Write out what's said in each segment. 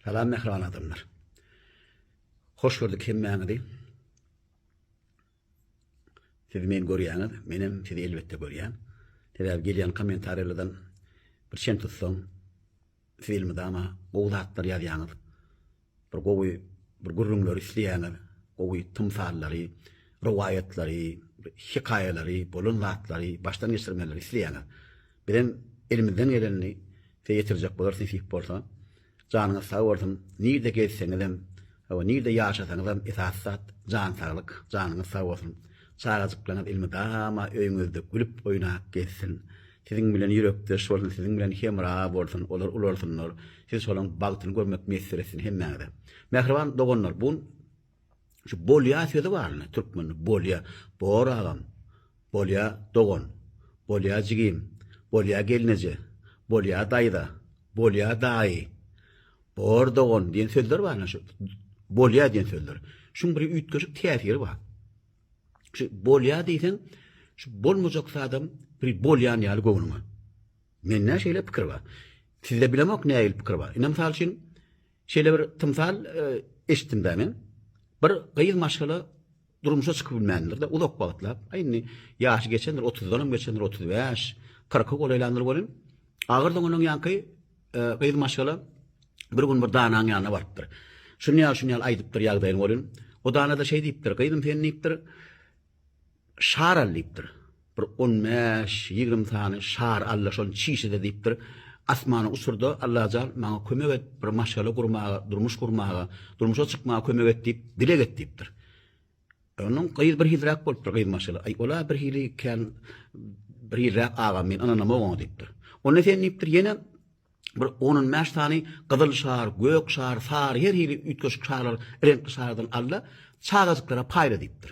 Salam mähriban adamlar. Hoş gördük hemmäňizi. Siz men görýäňiz, menem sizi elbetde görýän. Sebäbi gelýän kommentariýalardan bir çen tutsaň, siz elmydama gowy zatlar ýazýaňyz. Bir gowy bir gürrüňleri isleýäňiz, gowy tymsallary, rowaýatlary, hekaýalary, bolan zatlary, başdan geçirmeleri isleýäňiz. Bizem elimizden gelenini size ýetirjek bolarys nesip bolsa. Janyňyz sag bolsun. Nirde gezseňizem, hawa nirde ýaşasaňyzam esasy zat jan saglyk. Janyňyz sag bolsun. Çagajyklaryňyz elmydama öýüňizde gülüp oýnap gezsin. Siziň bilen ýürekdeş bolsun, siziň bilen hemra bolsun, olar ularsynlar. Siz şolaň bagtyny görmek miýesser etsin hemmäňize. Mähriban doganlar, bu gün Şu bolýa sözi bar indi türkmende bolýa. Bor agam. Bolýa dogan. Bolýa jigim. Bolýa gelneje. Bolýa daýza. Bolýa daýy. Bor dogan diýen sözler bar indi şu bolýa diýen sözler. Şuň bir üýtgeşik täsiri bar. Şu bolýa diýseň, şu bolmajak zadam bir bolýan ýaly göwnüňe. Mende şeýle pikir bar. Sizde bilemok nähili pikir bar. Ine mysal üçin Şeýle bir tymsal eşitdim-dä men. Bir gyz maşgala durmuşa çykyp bilmändir-de, uzak wagtlap. Aý indi ýaşy geçendir, 30-dan hem geçendir, 35, 40-y golaýlandyr welin, agyr doňanlaň ýaňky gyz maşgala bir gün bir danaň ýanyna barypdyr. Şuny ýaly, şuny ýaly aýdypdyr ýagdaýyny welin, o dana-da şeý diýipdir, gyzym sen diýipdir, Şar al diýipdir. Bir on bäş, ýigrimi sany şar al-da şony çişede diýipdir. Asmana uçur-da, Allajal, maňa kömek et, bir maşgala gurmaga, durmuş gurmaga, durmuşa çykmaga kömek et diýip, dileg et diýipdir. Onuň gyz birhiliräk bolupdyr, gyz maşgala. Aý, ol-a birhili kän birhiliräk agam, men ynanamok oňa diýipdir. Onda sen diýipdir, ýene bir on-on bäş sany gyzyl şar, gök şar, sary, her hili üýtgeşik şarlar, reňkli şarlardan al-da, çagajyklara paýla diýipdir.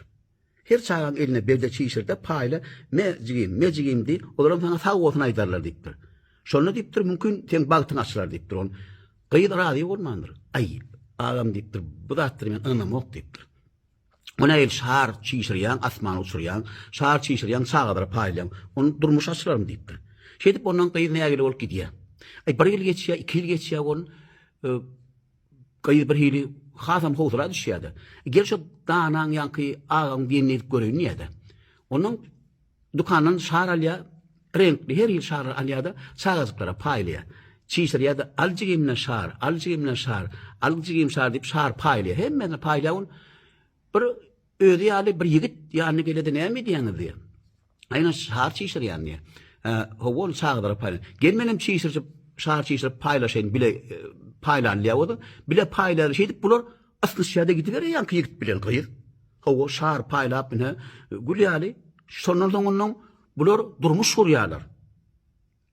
Her çagaň eline berde çişir-de, paýla, Me, jigim, me, jigim diý, olaram saňa sag bolsun aýdarlar diýipdir. Şonda diýipdir, Mümkin, seň bagtyň açylar diýipdir. Ol gyz razy bolmandyr. Aý, agam diýipdir, bu zatlary men ynanamok diýipdir. Ony äýl şar çişirýäň, asmana uçurýaň, şar çişirýäň, çagalara paýlaýaň, ony durmuş açylarmy diýipdir. Şeýdip ondan gyz nägile bolup gidýär. Aý, bir ýyl geçýär, iki ýyl geçýär, ol, e, Gyz birhili hasam howsala düşýär-de, Gel şo danaň ýaňky agaň gelini edip göreýin diýýär-de. Ondan dükandan şar alýar, reňkli her hili şarlar alýar-da, çagajyklara paýlaýar. Çişirýär-de, Al jigimden şar, al jigimden şar, al jigim şar diýip şar paýlaýar. Hemmesine paýlaýar ol. Bir Özi ýaly bir ýigit ýanyna gele-de näme edýäňiz diýýär. Aýna şar çişirýän diýýär. Hä, hawa ol çagalara paýlan. Gel menem çişirjip, şar çişirip paýlaşaýyn bile paýlan diýýär oda. Bile paýlaýlar. Şeýdip bular ysnyşýar-da gidiberýär ýaňky ýigit bilen gyz. Hawa şar paýlap ine gül ýaly. Şondan soň onnoň bular durmuş gurýarlar.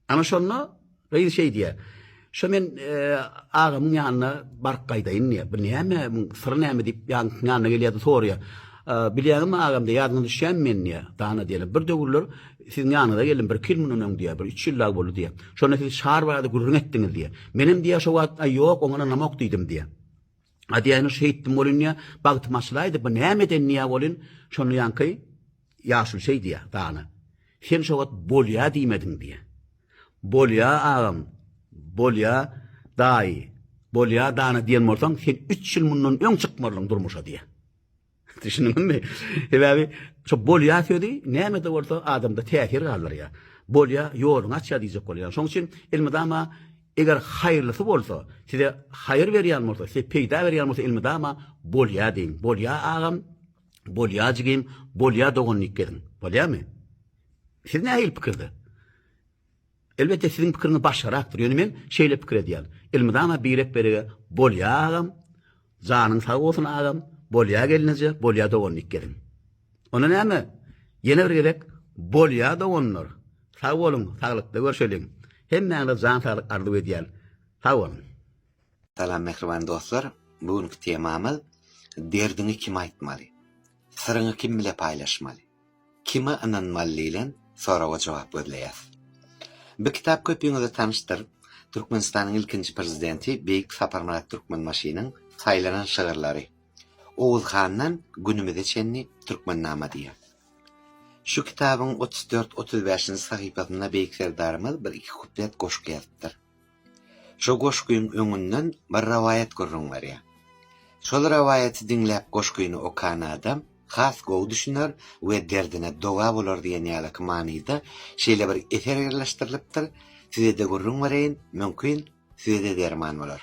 Ana şonda gyz şeý diýýär. Şo men agamyň ýanyna baryp gaýdaýyn diýýär. Bu näme, muň syry näme diýip ýaňkynyň ýanyna gelýär-de soraýar. Bilýäňmi agam diýýär, ýadyňa düşýämi men diýýär. Dana diýýär. Bir döwürler siziň ýanyňyza geldim, birki ýyl mundan öň diýýär, bir üç ýyl lag boldy diýýär. Şonda siz şar barada gürrüň etdiňiz diýýär. Menem diýýär şo wagt, aý ýok, oňa ynamok diýdim diýýär. Adýaýyny şeýtdim bolin diýýä, bagtym açylaýdy, bu näme eden diýýä bolin, şonda ýaňky ýaşuly şeý diýýä, dana. Sen şo wagt bolýa diýmediň diýýä. Bolýa agam, bolýa daýy, bolýa dana diýen bolsaň, sen üç ýyl mundan öň çykmarlyň durmuşa diýýä. Düşündiňizmi? Sebäbi şu bolýar sözi näme-de bolsa adamda täsir galdyrýar. Bolýar, ýoluňy açýar diýjek bolýar. Şonuň üçin elmydama eger haýyrlysy bolsa, size haýyr berýän bolsa, size peýda berýän bolsa elmydama bolýar diýiň. Bolýar agam, bolýar jigim, bolýar dogan diýip geziň. Bolýarmy? Siz nähili pikirde? Elbetde siziň pikiriňiz başgarakdyr, ýöne men şeýle pikir edýän. Elmydama birek berege bolýa agam, janyň sag bolsun agam, bolýa gelneje, bolýa doganlyk geliň. Onda näme ýene bir gezek bolýa doganlar, sag boluň, saglykda görşeliň. Hemmäňize jan saglyk arzuw edýän. Sag boluň. Salam mähriban dostlar, bu günki temamyz Derdiňi kime aýtmaly? Syryňy kim bile paýlaşmaly? Kime ynanmaly diýlen soraga jogap gözleýäs. Bu kitap köpüňize tanyşdyr. Türkmenistanyň ilkinji prezidenti beýik Saparmyrat Türkmenbaşynyň saýlanan şygyrlary. Oguz handan günümize çenli Türkmennama diýýär. Şu kitabyň otuz dört, otuz bäşinji sahypasynda beýik Serdarymyz bir-iki kuplet goşgy ýazypdyr. Şu goşgyň öňünden bir rowaýat gürrüň berýär. Şol rowaýaty diňläp goşgyny okan adam has gowy düşüner we derdine dowa bolar diýen ýalyky manyda şeýle bir eser ýerleşdirilipdir, size-de gürrüň bereýin, mümkin, size-de derman bolar.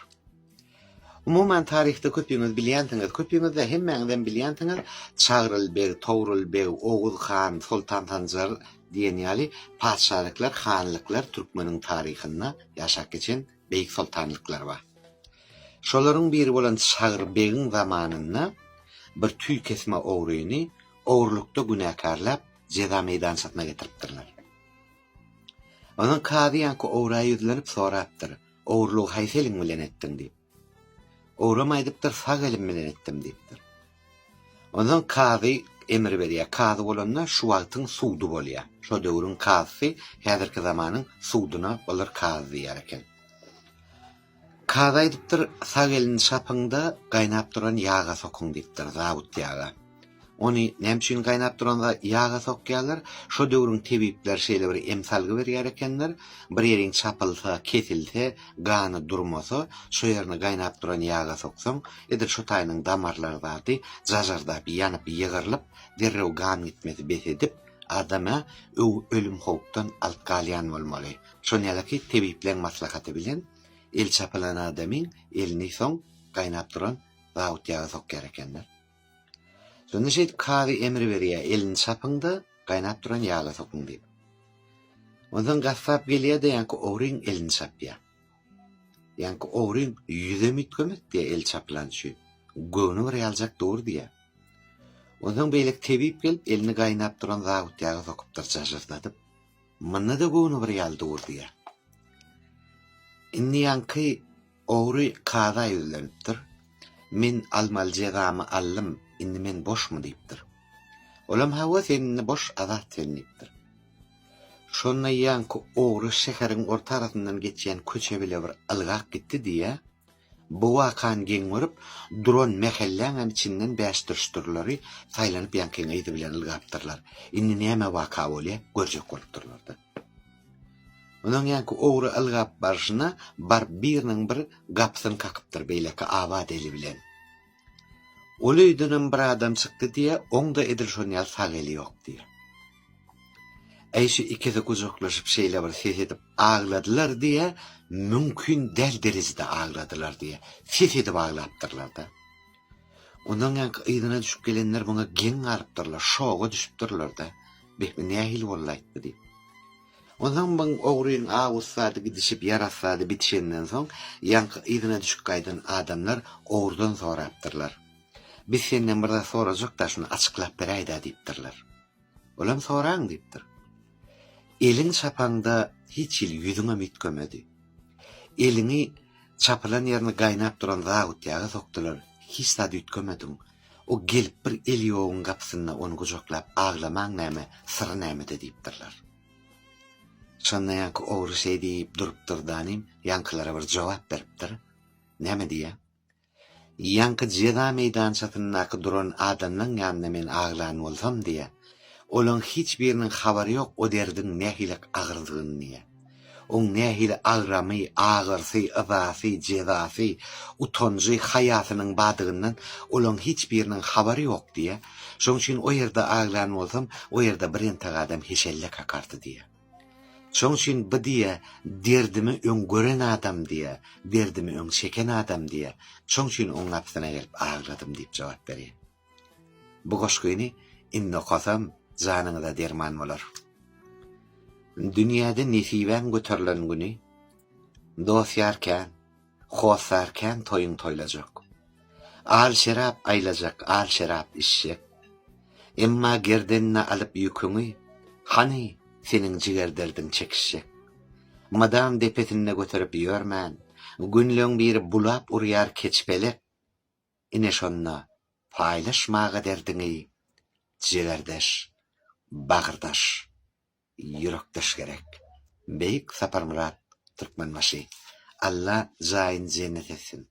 Umuman, taryhda köpüňiz bilýänsiňiz, köpüňiz-de, hemmäňizem bilýänsiňiz, Çagryl beg, Togrul beg, Oguz han, Soltan Sanjar diýen ýaly patyşalyklar, hanlyklar türkmeniň taryhynda ýaşap geçen beýik soltanlyklar bar. Şolaryň biri bolan Çagry begiň zamanynda bir tüý kesme ogryny ogrulykda günäkärläp, jeza meýdançasyna getiripdirler. Onuň kazy ýaňky ogrä ýüzlenip sorapdyr. Ogurlygy haýsy eliň bilen etdiň diýip. Ogram aýdypdyr, sag elim bilen etdim diýipdir. Ondan kazy emir berýär. Kazy bolanda şu wagtyň sudy bolýar. Şo döwrüň kazysy häzirki zamanyň sudyna olar kazy diýer eken. Kazy aýdypdyr, sag elini şapyň-da, gaýnap duran ýaga sokuň diýipdir, zabut ýaga. Ony näme üçin gaýnap duran ýaga sokýarlar? Şo döwrüň tebipleri şeýle bir emsalgy berýär ekenler, Bir ýeriň çapylsa, kesilse, gany durmasa, şo ýerini gaýnap duran ýaga soksaň, edil şo taýynyň damarlary zady jajardap, ýanyp, ýygrylyp, derrew gan gitmesi bes edip, adam-a ölüm howpdan alyp galýan bolmaly. Şony ýalyky tebipleň maslahaty bilen el çapylan adamyň elini soň gaýnap duran zawut ýaga sokýar ekenler. Şonda şeýdip kazy emr berýär, elini çapyň-da, gaýnap duran ýaga sokuň diýip. Onsoň gassap gelýär-de ýaňky ogryň elini çapýar. Ýaňky ogryň ýüzem üýtgemez diýär el çapylan üçin. Göwni bir ýaljak dur diýär. Onsoň beýleki tebip gelip elini gaýnap duran zabut ýaga sokupdyr jažyrdadyp. Munda-da göwni bir ýaly dur diýär. Indi ýaňky Ogry kaza ýüzlenipdir. Men almaly jezamy aldym, indi men boşmy diýipdir. Olam hawa sen indi boş, azat sen diýipdir. Şonda ýaňky ogry şäheriň orta arasyndan geçýän köçe bile bir ylgap gitdi diýýä. Bu wakany geň görüp duran mähelläňem içinden bäşdürşdürleri saýlanyp ýaňky gyzy bilen ylgapdyrlar. Indi näme waka bolýa görjek bolupdyrlarda. Onuň ýaňky ogry ylgap barşyna baryp biriniň bir gapysyny kakypdyr beýleki abat eli bilen. Ol öýdenem bir adam çykdy diýýä, oň-da edil şon ýaly sag eli ýok diýýä. Äý şu ikisi gujaklaşyp şeýle bir ses edip agladylar diýýä, mümkin däl derejede agladylar diýýä, ses edip aglapdyrlar-da. Ondan ýaňky yzyna düşüp gelenler muňa geň galypdyrlar, şoga düşüpdirler-de, Beh, bu nähili bolaýyp bu diýip. Onsoň muň ogrynyň aw ussady gidişip, ýar assady bitişenden soň, ýaňky yzyna düşüp gaýdan adamlar ogrudan sorapdyrlar, Biz senden bir zat sorajak-da, şuny açyklap beräý-dä diýipdirler. Olam soraň diýipdir. Eliň çapaňda hiç hili ýüzüňem üýtgemedi. Eliňi çapylan ýerini gaýnap duran zabutýaga sokdular, hiç zat üýtgemediň. O gelip bir eli ýoguň gapysynda ony gujaklap aglamaň näme, syry nämede diýipdirler. Şonda ýaňky ogry şeý diýip durupdyr danym, ýaňkylara bir jogap beripdir. Näme diýýä? Ýaňky jeza meýdançasyndaky duran adamlaň ýanynda men aglan bolsam diýýär. Olaň hiç biriniň habary ýok o derdiň nähili agyrdygyny diýýär. Oň nähili agramy, agyrysy, yzasy, jezasy, utanjy, haýasynyň badygyndan olaň hiç biriniň habary ýok diýýär. Şoň üçin o ýerde aglan bolsam o ýerde birentek adam heşelle kakardy diýýär. Şoň üçin bu diýýär, Derdimi öň gören adam diýýär, derdimi öň çeken adam diýýär, şoň üçin oň gapysyna gelip agladym diýip jogap berýär. Bu goşgyny indi okasam, janyňyza derman bolar. Dünýäde nesibäň göterilen güni, dost-ýar kän, Hossar kän toýuň toýlajak. Al şerap aýlajak, al şerap içjek. Emma gerdenine alyp ýüküňi, Hany, seniň jiger derdiň çekişjek. Mydam depesinde göterip ýörmän, Günleň biri bulap urýar keç pelek. Ine şonda paýlaşmaga derdiňi, Jigerdeş, bagyrdaş. Ýürekdaş gerek. Beýik Saparmyrat Türkmenbaşy. Alla jaýyny jennet etsin.